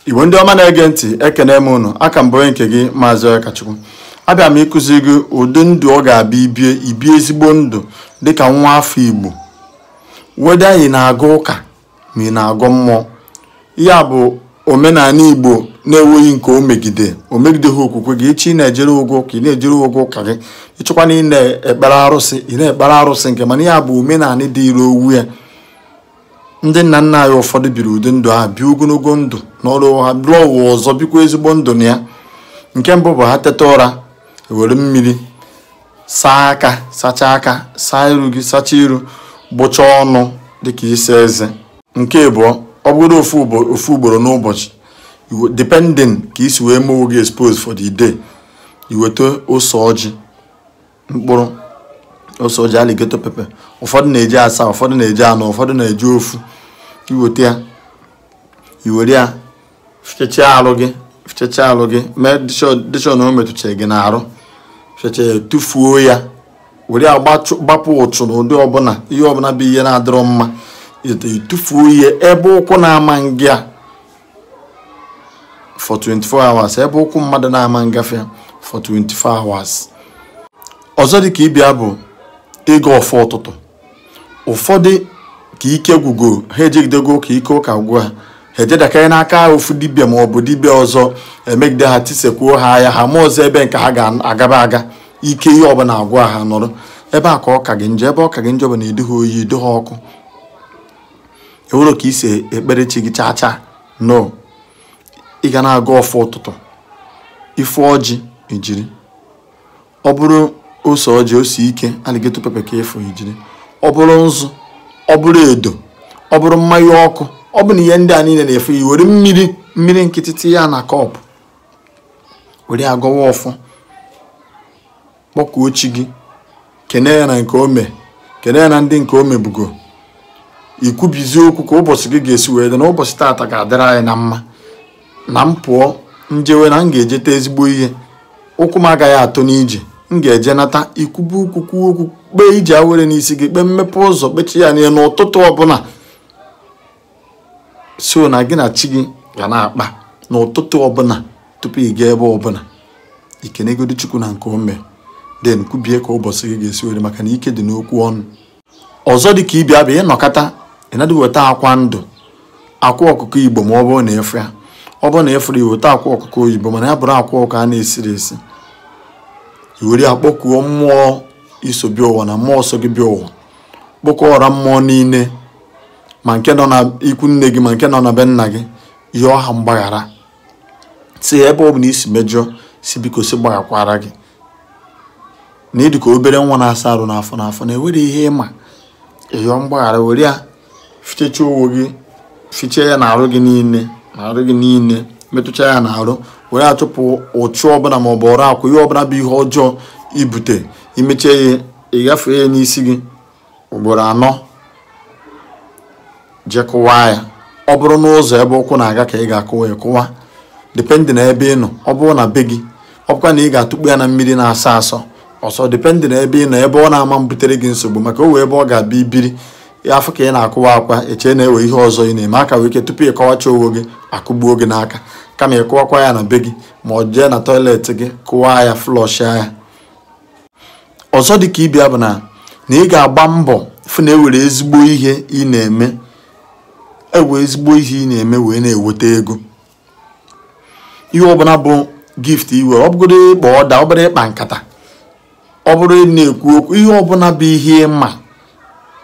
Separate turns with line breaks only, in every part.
igbo ndị ọma na-ege ntị ekene m ụnụ aka m bụ onye nke gị maazị onyekachukwu abịa m ịkụzi gị ụdị ndụ ọ ga-abụ ibie ibie ezigbo ndụ dịka nwa afọ igbo whether ị na-aga ụka ma ị na-agọ mmụọ ya bụ omenala igbo na-enweghị nke o megide o megideghị okwukwe gị echi ị na-ejere ụgwọ ụka ị na-ejere ụgwọ ụka gị ịchọkwa na ị na-ekpere arụsị ị na-ekpere arụsị nke mana ya bụ omenala dị ire ọ wụ ya ndị nna nna anyị ụfọdụ biri ụdị ndụ ahụ bie ogologo ndụ n'ọrụ ha lọọ ụwa ọzọ bikwa ezigbo ndụ na ya nke mbụ bụ ha teta ụra iwere mmiri saa aka sachaa aka saa iru gị sachaa iru gbụchaa ọnụ dịka isi eze nke abụọ ọ bụrụ ofu ugboro n'ụbọchị depending ka isi wee mee onwe gị expose for the day iweta ose ọjị mkpụrụ ose ọjị alligator pepper ụfọdụ na-eji asaa ụfọdụ na-eji anọ ụfọdụ na-eji ofu iweta ya iwere ya fichachaa arụ gị fichachaa arụ gị meedị sure na o metụchara gị n'arụ fichacha ya tụfuo ya were ya gbapụ uchu na ụdị ọbụla ihe ọbụla bụ ihe na-adịrọ mma ịtụfuo ya ebe ụkwụ na-ama nga for 24 hours ebe ụkwụ mmadụ na-ama ngafe for 24 hours ọzọ dị ka ibe ya bụ ịgọ ọfọ ụtụtụ ụfọdụ ka ike gwụgo ha ejegidego ụka ike ụka gwụ ha ha ejedakarị n'aka ofu dibịa ma ọ bụ dibịa ọzọ emegide ha tisekwuo ha ya ha amazọ ebe nke ha ga-agaba aga ike ihe ọbụla agwụ ha nọrọ ebe a ka ọ ka gị njọ ebe ọ ka gị njọ bụ na ịdịha oyi ịdịha ọkụ inwerọ ka isi ekpere chi gị chaa chaa no ị ga na-agọ ọfọ ụtụtụ ịfụ ọjị ijiri ọ bụrụ ose ọjị ose ike alligator pepper ka ịfụ ijiri ọ bụrụ nzu ọ bụrụ edo ọ bụrụ mmanya ọkụ ọ bụ na ihe ndị a niile na ịfụrọ iwere mmiri mmiri nkịtị tinye ya na cup were agọwa ọfọ kpọkuo chi gị kene ya na nke ome kene ya na ndị nke omebugo ikwubizi okwu ka ụbọchị gị ga-esi wee dị na ụbọchị taata ga-adịrị anyị na mma na m pụọ njewe na m ga-ejeta ezigbo ihe ụkwụ m agaghị atọ n'ije m ga-eje nata ikwube okwu kwuo okwu kpee ije awere n'isi gị kpee mmepe ụzọ kpechaa ya niile n'ụtụtụ ọbụla so na gị na chi gị ga na-akpa n'ụtụtụ ọbụla tupu ị gaa ebe ọbụla ikenegodu chukwu na nke ome then kwubie ka ụbọchị gị ga-esi were maka na ike dị n'okwu ọnụ ọzọ dị ka ibe ya bụ ịnọkata ịnadị weta akwa ndụ akwa ọkụkọ igbo ma ọ bụrụ na ịfụ ya ọ bụrụ na ịfụrọ ya weta akwa ọkụkọ oyibo mana ya bụrụ akwa ọkụkọ a na-esirọ esi iwere ya kpọkuo mmụọ iso bịa ụwa na mmụọ so gị bịa ụwa kpọkuo ọra mmụọ niile ma nke nọ na ikwu nne gị ma nke nọ na be nna gị yọọ ha mgbaghara si ebe ọbụna i si mejọọ si biko si gbaghakwara gị na ịdị ka obere nwa na-asa arụ n'afọ n'afọ na enwerọ ihe ị ma ị yọọ mgbaghara were ya fichecha owo gị fiche ya n'arụ gị niile n'arụ gị niile metụcha ya n'arụ were achụpụ uchu ọbụla ma ọ bụ ọrụ akwụ ihe ọbụla bụ ihe ọjọọ i bute i mechaa ya ị ga-efe ya n'isi gị ugboro anọ jee kụwaa ya ọ bụrụ n'ụzọ ebe ụkwụ na-aga ka ị ga-akụwa ya kụwa dependị na ebe ị nọ ọ bụrụ na be gị ọ bụkwa na ị ga-atụkpu ya na mmiri na-asọ asọ ọsọ dependị na ebe ị nọ ebe ọ na-ama mbutere gị nsogbu maka o wee ebe ọ ga-abịa i biri ya afụ ka ị na-akụwa akwa eche na ewe ihe ọzọ ị na-eme aka wee ike tupu ị kọwacha onwe gị akụgbuo gị n'aka kama ị kụwakwa ya na be gị ma ọ jee na tọiletị gị kụwa ya flọshịa ya ọzọ dị ka ibe ya bụ na na ị ga-agba mbọ fụ na ewere ezigbo ihe ị na-eme ewe ezigbo ihe ị na-eme wee na-eweta ego ihe ọbụla bụ gift i we ọ bụgoro ịkpa ọda ọ bụrụ ịkpa nkata ọ bụrụ ị na-ekwu okwu ihe ọbụla bụ ihe ị ma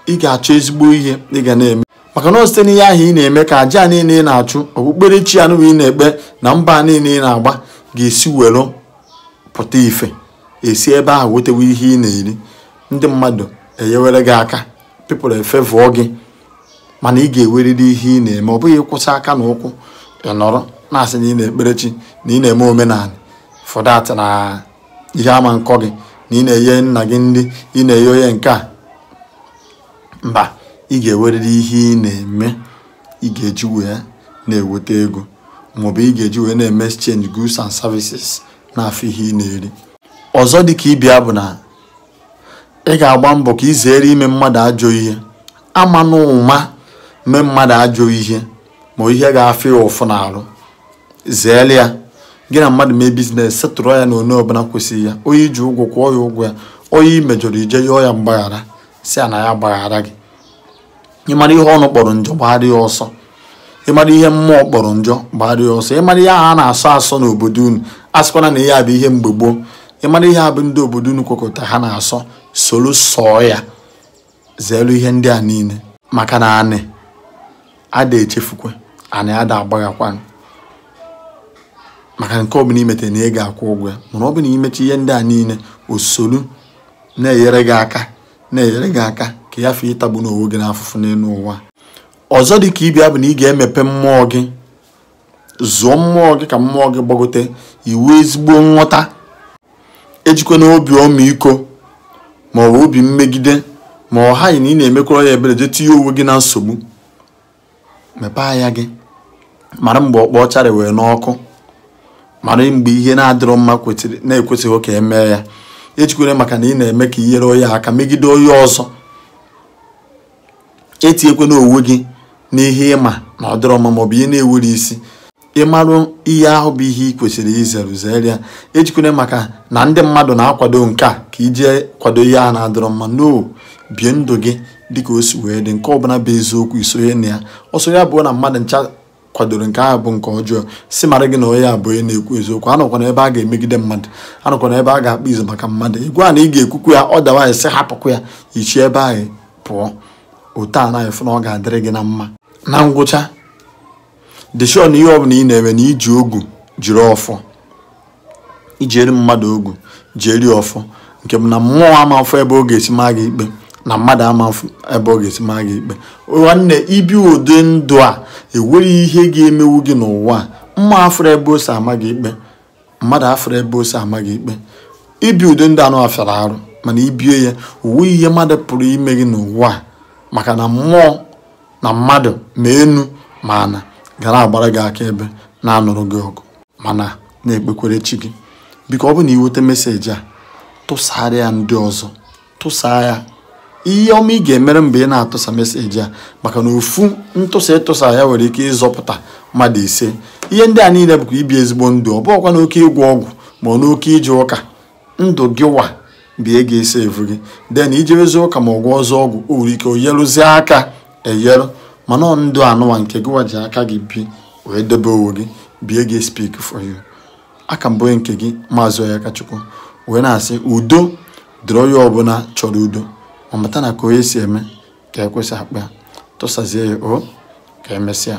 ị ga-achọ ezigbo ihe ị ga na-eme maka na site n'ihe ahụ ị na-eme ka aja niile ị na-achụ okpukperechi ahụ ị na-ekpe na mbọ niile ị na-agba ga-esi were pụta ife esi ebe ahụ wetewe ihe ị na-eri ndị mmadụ enyewere gị aka people efevụọ gị mana ị ga-eweriri ihe ị na-eme ọ bụghị ịkwụsị aka na ụkwụ ị nọrọ na-asị na ị na-ekpere chi na ị na-eme omenala for that na ihe ama nkọ gị na ị na-enye nna gị nri ị na-enye onye nke a mba ị ga-eweriri ihe ị na-eme ị ga-eji wee na-eweta ego maọbụ ị ga-eji wee na-eme exchange goods and services na-afụ ihe ị na-eri ọzọ dị ka ibe ya bụ na ị ga-agba mbọ ka ị zere ime mmadụ ajọ ihe ama na ụma mee mmadụ ajọ ihe ma ihe ga-afụ ya ụfụ n'arụ zeelu ya gị na mmadụ mee biznes setụrụ ya na onye ọbụla kwesịrị ya onye i ji ụgwọ kwụọ ya ụgwọ ya onye i mejọrọ i jee yọọ ya mgbaghara sị ya na ya gbaghara gị ịmara ihe ọnụ kpọrọ njọ gbaara ya ọsọ ịmara ihe mmụọ kpọrọ njọ gbaara ya ọsọ ịmara ihe ahụ a na-asọ asọ n'obodo unu asịkwana na ihe a bụ ihe mgbe gboo ịmara ihe a bụ ndị obodo unu kwekọta ha na-asọ soro sọọ ya zeelu ihe ndị a niile maka na anị ada echefukwa anị ada agbaghakwanụ maka nke ọbụla i mete na ị ga-akwụ ụgwọ ya mana ọ bụ na i mecha ihe ndị a niile o solu na-enyere gị aka na-enyere gị aka ka ị ghafee ịtagbu n'onwe gị n'afụfụ n'elu ụwa ọzọ dị ka ibe ya bụ na ị ga-emepe mmụọ gị zụọ mmụọ gị ka mmụọ gị gbagote ị nwee ezigbo nghọta ejikwana obi ọmịiko ma ọ bụ obi mmegide ma ọ haghị na ị na-emekwara ya ebere jee tinye onwe gị na nsogbu mepee anya gị mara mgbe ọkpa ọchara wee n'ọkụ mara mgbe ihe na-adịrọ mma na-ekwesịrọ ka emee ya ejikwana maka na ị na-eme ka inyere onye aka megide onye ọzọ etinyekwana onwe gị n'ihe ịma na ọ dịrọ mma maọbụ ihe na-enwerọ isi ịmarụ ihe ahụ bụ ihe ị kwesịrị izere zere ya ejikwana maka na ndị mmadụ na-akwado nke a ka ije kwado ihe a na-adịrọ mma no bie ndụ gị dịka o si wee dị nke ọbụla bụ eziokwu isonye na ya ọsọ ya bụrụ na mmadụ ncha kwadoro nke ahụ bụ nke ọjọọ si mara gị na onye a bụ onye na-ekwu eziokwu anọkwana ebe a ga-emegide mmadụ anọkwana ebe a ga-akpa izu maka mmadụ ịgwa na ị ga-ekwukwu ya ọ dawaghị sị hapụkwa ya i si ebe ahụ pụọ otu a na-afụ na ọ ga-adịrị gị na mma na ngwụcha dị sure na ihe ọbụla ị na-eme na iji ogu jiri ọfọ ijiere mmadụ ogu jiere ọfọ nke bụ na mmụọ ama afụ ebe ọ ga-esi maa gị ikpe na mmadụ ama afụ ebe ọ ga-esi maa gị ikpe nwanne ibi ụdị ndụ a enweghị ihe ga-emewu gị n'ụwa a mmụọ afụrọ ebe o si ama gị ikpe mmadụ afụrọ ebe o si ama gị ikpe ibi ụdị ndụ anụwa fịara arụ mana ibie ya o nweghị ihe mmadụ pụrụ ime gị n'ụwa a maka na mmụọ na mmadụ ma enu ma ana ga na-agbara gị akaebe na-anụrụ gị ọgụ mana na-ekpekwere chi gị biko ọ bụ na ị nweta meseji a tụsara ya ndị ọzọ tụsaa ya ihe ọma ị ga-emere m bụ ị na-atụsa meseji a maka na ofu ntụsa ịtụsa ya nwere ike ịzọpụta mmadụ ise ihe ndị a niile bụkwa ibi ezigbo ndụ ọ bụghịkwa n'oke ịgwọ ọgwụ ma ọ n'oke ije ụka ndụ gị wa bụ ihe ga-save gị then ijewezi ụka ma ọ gwọzi ọgwụ o nwere ike o nyerụzie aka enyerụ mana ọ ndụ anụwa nke gị wa ji aka gị bi wee debe onwe gị bụ ihe ga-speak for you a ka m bụ onye nke gị maazị Onyekachukwu wee na-asị udo dịrị onye ọbụla chọrọ udo ma mata na ka onye si eme ka ekwe si akpọ ya tụsazie ya o ka emesịa